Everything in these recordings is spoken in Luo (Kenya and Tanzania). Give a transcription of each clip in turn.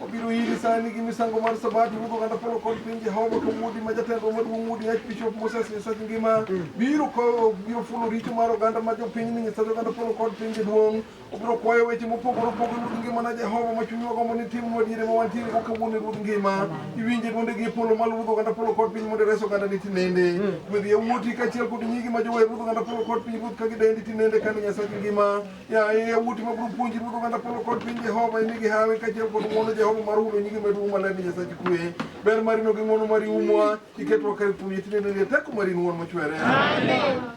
obiro iri sani gi misango mar sabato ruodh oganda polo kod piny jehova kawuodi ma jatendwa maduong' wuodi yach bishop moses nyasach ngima biro ko- biro fulo richo mar oganda ma jopiny ni nyasach oganda polo kod piny jaduong' obiro kwayo weche mopogore opogore ruodh ngima na jehova ma chunywa gombo ni timnwa diere ma wantiere go kawuono e ruodh ngima iwinje dwonde gi e polo malo ruodh oganda polo kod piny mondo ires oganda ni tinende gwedh yawuoti kaachiel kod nyigi ma jower ruodh oganda polo kod piny ruoth ka gidendi tinende kane nyasach ngima Ya e wuti ma buru punji buru kanda polo kod piny Jehova ini gi hawi ka jel kod ng'wono Jehova mar ulo nyingi medu uma leni Nyasachi kwe. Ber mari no gi ng'wono mari umwa iketwa kar kum yitine ne teko mari ng'wono mochwere. Amen.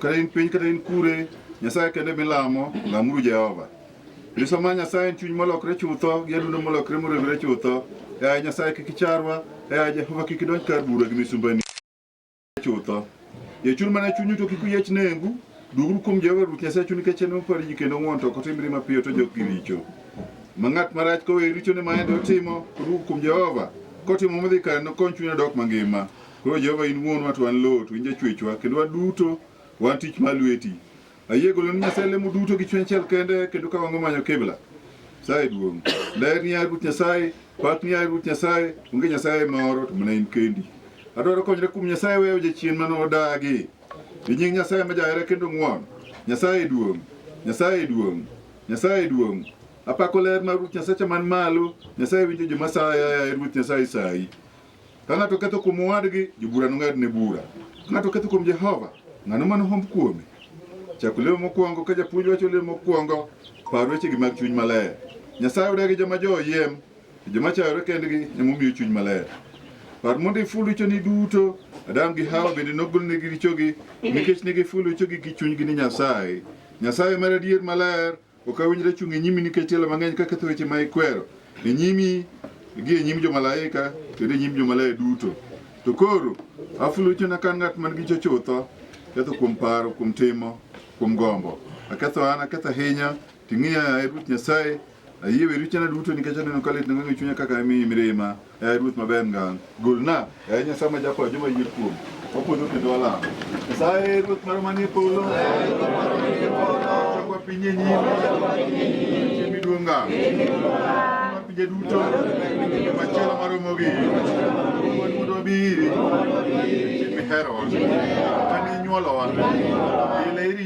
Kata in piny kata in kure, Nyasaye kende milamo, lamuru Jehova. Nyiso ma Nyasaye en chuny molokre chutho, gi adundo molokre moregre chutho. Yaye Nyasaye kik icharwa, yaye Jehova kik idonj kar bura gi misumbani chutho. Yechuru mana chunyu to kik uyiech nengu. Duguru kuom Jehova Ruoth Nyasaye chunyu nikech en mopar ji kendo ng'won to ok otimre mapiyo to jok gi richo. Ma ng'at marach koweyo richone ma en otimo, koduogo kuom Jehova, kotimo modhi kare nokony chunye odok mangima. Koro Jehova in wuonwa to wan lowo to in jachwechwa kendo waduto wan tich mar lweti. Ayie golo ni Nyasaye lemo duto gi chuny achiel kende kendo ka wango manyo kibla. Nyasaye duong'. Ler ni yaye Ruoth Nyasaye, pak ni yaye Ruoth Nyasaye, onge Nyasaye moro to mana in kendi. Adwaro konyre kuom Nyasaye weyo jachien mane odagi. Gi nying Nyasaye ma jahera kendo ng'won. Nyasaye duong'. Nyasaye duong'. Nyasaye duong'. Apako ler mar Ruoth Nyasacha man malo. Nyasaye winjo joma saya yaye Ruoth Nyasaye sayi. Ka ng'ato ketho kuom owadgi, jobura nong'adne bura. Ka ng'ato ketho kuom Jehova, ng'ano ma nohomb kuome? Chak lemo mokwongo. Ka japuonj wacho lemo mokwongo, par wechegi mag chuny maler. Nyasaye odagi joma jo oyiem, to joma chayore kendgi ema omiyo chuny maler. Par mondo iful richoni duto. Adam gi Hawa bende nogolnegi richogi nikech ne gifulo richogi gi chunygi ni Nyasaye. Nyasaye mar adier maler Ok awinjra chung' e nyimi nikech tielo mang'eny kaketho weche ma ikwero e nyimi gi e nyim jomalaika kendo e nyim jomaler duto. To koro afulo richona ka an ng'at man gi richo chutho, ketho kuom paro, kuom timo, kuom gombo. Aketho an, aketho ahinya, ting'iya, yaye Ruoth Nyasaye. Ayie we richona duto nikech aneno ka litna ng'eng' e chunya kaka imiyi mirima. Yaye Ruoth maber ngang', golna, yaye Nyasaye ma jakwayo joma yie kuomi, wapodho kendo walamo. Nyasaye Ruoth marwa manie polo, chokwa piny e nyimi, chiemi duong' ngang'. Ma pinje duto, machielo maromo gi, wuon mondo wabiri, chieng' miherowa, kane inyuolowa, ile iri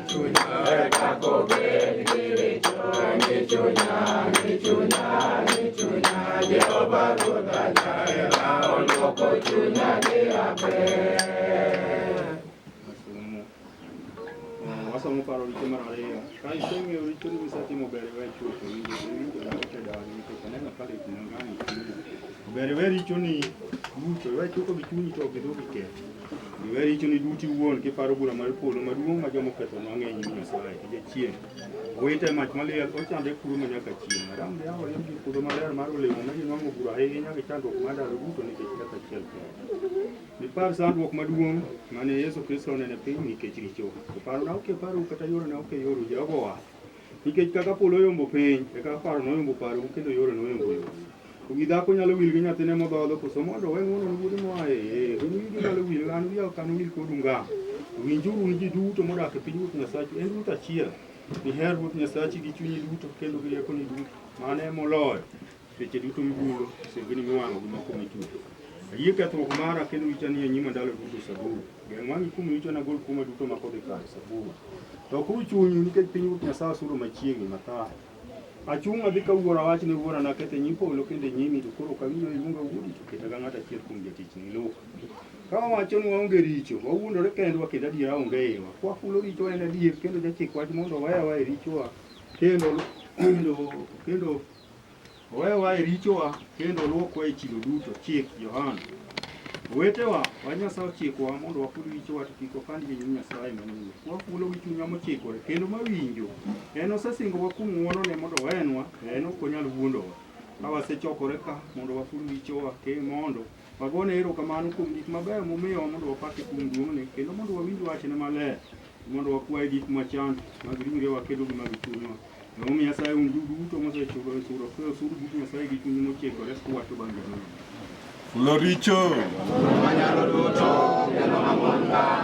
Wasomo paro richo mar ariyo. Ka iseng'eyo richoni misetimo ber iwe chuth, owinjo owinjo na ote dawani nikech aneno ka lit nang'ani. Ber iwe richoni duto, iwe chuko gi chunyi to ok idog iketh. Iwe richoni duto iwuon kiparo bura mar polo maduong' ma joma oketho nwa ng'eny ni Nyasaye e jachien. Owite mach maliel ochande kuro ma nyaka chieng'. Aram de aoye gi puodho maler mar olemo ma ginwang'o bura ahinya gi chandruok mar ndalo duto nikech kaka achiel kende. Ipar sandruok maduong' mane Yesu Kristo onene piny nikech richo. Oparo na ok paro kata yore na ok yoro Jehova owacho. Nikech kaka polo oyombo piny, e kaka paro na oyombo parou kendo yore na oyombo yoru. Wi dhako nyalo wil gi nyathine modhodho koso mondo owe ng'wono ne wuode moa e iye? Wi wigi nyalo wil, an wiya ok anowil kodu ngang'. Winjuru un ji duto modak e piny Ruoth Nyasachu, en Ruoth achiel. Iher Ruoth Nyasachi gi chunyi duto kendo gi riekoni duto. Mano e moloyo seche duto mibulo misengini miwang'o gi moko michulo. Ayie kethruok mara kendo richa ni e nyima ndalo duto. Zaburi. Geng' wang'i kuom richo nagol kuoma duto ma kodhi kare. Zaburi. Lokuru chunyu nikech piny Ruoth Nyasaye osuro machiegni. Mathayo. Achung' adhi ka wuora, awach ne wuora, Naketho e nyim polo kendo e nyimi, to koro ok awinjo ni iluonga wuodi, to keta ka ng'at achiel kuom jotichni. Luk. Ka wawacho ni waonge richo, wawuondore kendwa kendo adiera onge e iwa. Ka wakulo richowa en adier, kendo jachik wach mondo oweya aweya e richowa, kendo kendo Owewa e richowa kendo olwokwa e chilo duto. Chik, Johana. Owetewa, wa Nyasaye ochikowa mondo waful richowa to kik wapand gi nyim Nyasaye manyien. Kwafulo gi chunywa mochikore kendo mawinjo. En osesingowa kuom ng'wonone mondo owenwa, to en ok onyal wuondowa. Ka wasechokore ka mondo waful richowa ke mondo Wagone erokamano kuom gik mabeyo momiyowa mondo wapake kuom duong'ne, kendo mondo wawinj wachne maler, mondo wakwaye gik machando mag ringrewa kendo gi mag chunywa. Emomiyo asayo un duto mosechulo osuru, asayo osuru but Nyasaye gi chunyu mochikore kuwacho bang' jadolo. Fulo richo. Manyalo duto, kendo mamon ka.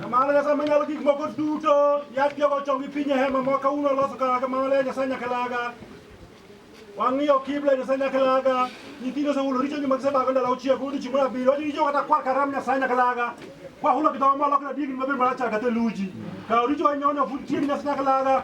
Kamano Nyasaye Manyalo Gik Moko Duto, yach jogo ochongi piny e hema ma kawuono oloso kaka kamano le Nyasaye nyakalaga. Wang'iyo kibla Nyasaye nyakalaga. Nyithindo osehulo richogi ma gisebago ndalo auchiel kod odiechieng' mar abiriyo. Wacho richo kata kwar karam Nyasaye nyakalaga. Kwahulo gi dhowa molokre adier gin mabiro marachar ka theluji. Kawo richowa inyono fut tieng' Nyasaye nyakalaga.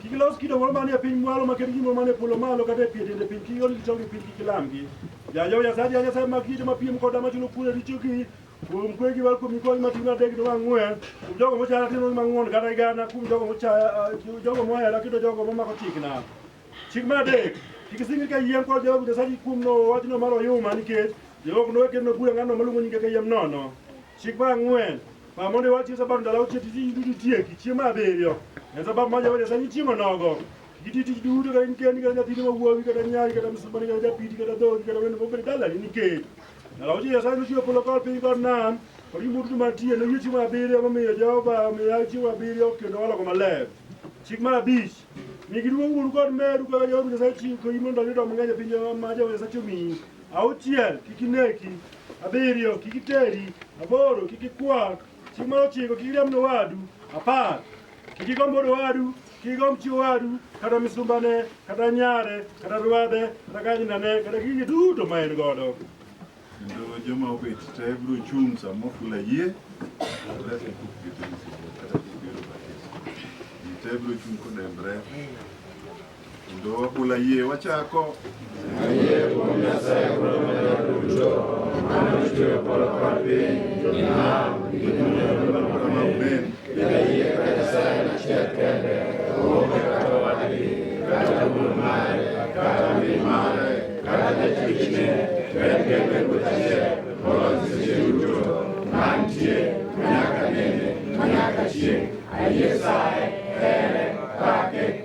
Kik ilos kido moro manie piny mwalo maket gi moro manie polo malo kata e pie tiende piny kik iol gichongi piny kik ilamgi. Ja Jehova Nyasaye ja Nyasaye mag kido mapiem koda machulo kuor e richogi kuom kwe gi wal kuom nyikwayi matin adek kendo mang'wen kuom jogo mochaya timo mang'won kata igana kuom jogo mochaya eh, jogo mohera kendo jogo momako chikna. Chik mar adek kik isingri ka yiem kod Jehova Nyasaye kuom no wachno mar oyuma nikech Jehova ok nowe kendo nobura ng'atno maluongo nyinge ka yiem nono. Chik mar ang'wen Mamondo wachi sababu ndalo uche tiji ndudu tie kichie maberio. En sababu maja waja sanyi chimo nogo. Kiti tiji dudu ka inke ni kanya tini mawuowi kata nyari kata msumani kata japiti kata dhogi kata wendo mokere dala ni ke. Ndalo uche ya sanyi chio polo kol pinyi kod nam. Kodi mutu matie no yuchi maberio mamiyo Jehova miyo chimo maberio kendo wala koma lev. Chik mar abich. Migiduong' uru kod meru kaka Jehova Nyasaye chiko imondo yudo mang'eny e piny maja waja sachomi. Auchiel, kik ineki. Abiriyo, kik iteri. Aboro, kik ikwa. Chieng' mar ochiko, kik iriamb owadu. Apar, kik igomb wuod owadu, kik igomb chi owadu, kata misumbane, kata nyare, kata rwadhe, kata kanyinane, kata gigi duto ma en godo. Kendo joma obet te biro chung' sama ofula yie. Te biro chung' kodembre. Kendo wabula yie wachako. Ayie kuom Nyasaye kod omenda duto, mano chweyo polo kod piny, gi nam, gi duto kama unen. Kendo ayie ka Nyasaye en achiel kende, oonge kata owadgi, kata wuon mare, kata min mare, kata jatichne, to en kende Ruoth achiel, moloyo seche duto, mantie, manyaka nene, manyaka chieng'. Ayie saye, here, pake,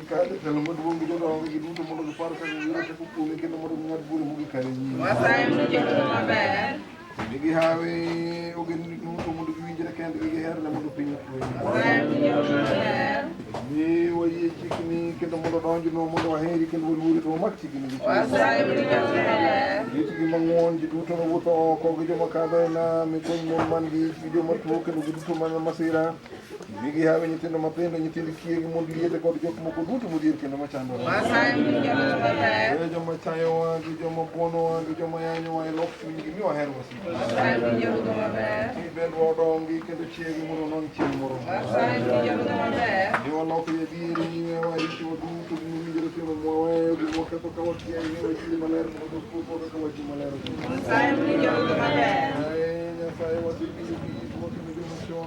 Kale telo maduong' gi jodongo gi duto mondo gipar kaka giyudo teko kuome kendo mondo ging'ad bura mogik kare e nyime. Wasayo ni jodolo maber. Ne gihawe ogendni duto mondo giwinjre kendgi giherre mondo piny otwe. Wasayo ni jodolo maber. Mi wayie chikni kendo mondo donjnwa mondo waheri kendo waluori to wamak chikni gi chuny. Wasayo ni jodolo maber. Ritgi mang'won ji duto mawuotho oko gi joma kadho e nam, ikony mon man gi ich gi joma tuo kendo gi duto mana masira. Mi gihawi nyithindo matindo, nyithind kiye gi mond liete kod jok moko duto modhier kendo machandore. Weyo joma chayowa gi joma buonowa gi joma yanyowa e lok chunygi mi waher wasika. Mi bend wadongi kendo chiegi mondo non chieng' moro. Mi walok yadieri nyime waricho duto gi mowinjore timo mwaweyo gi mwaketho ka wakia ing'e wachni maler mondo kupo kaka wachi maler. Nyasaye wasiki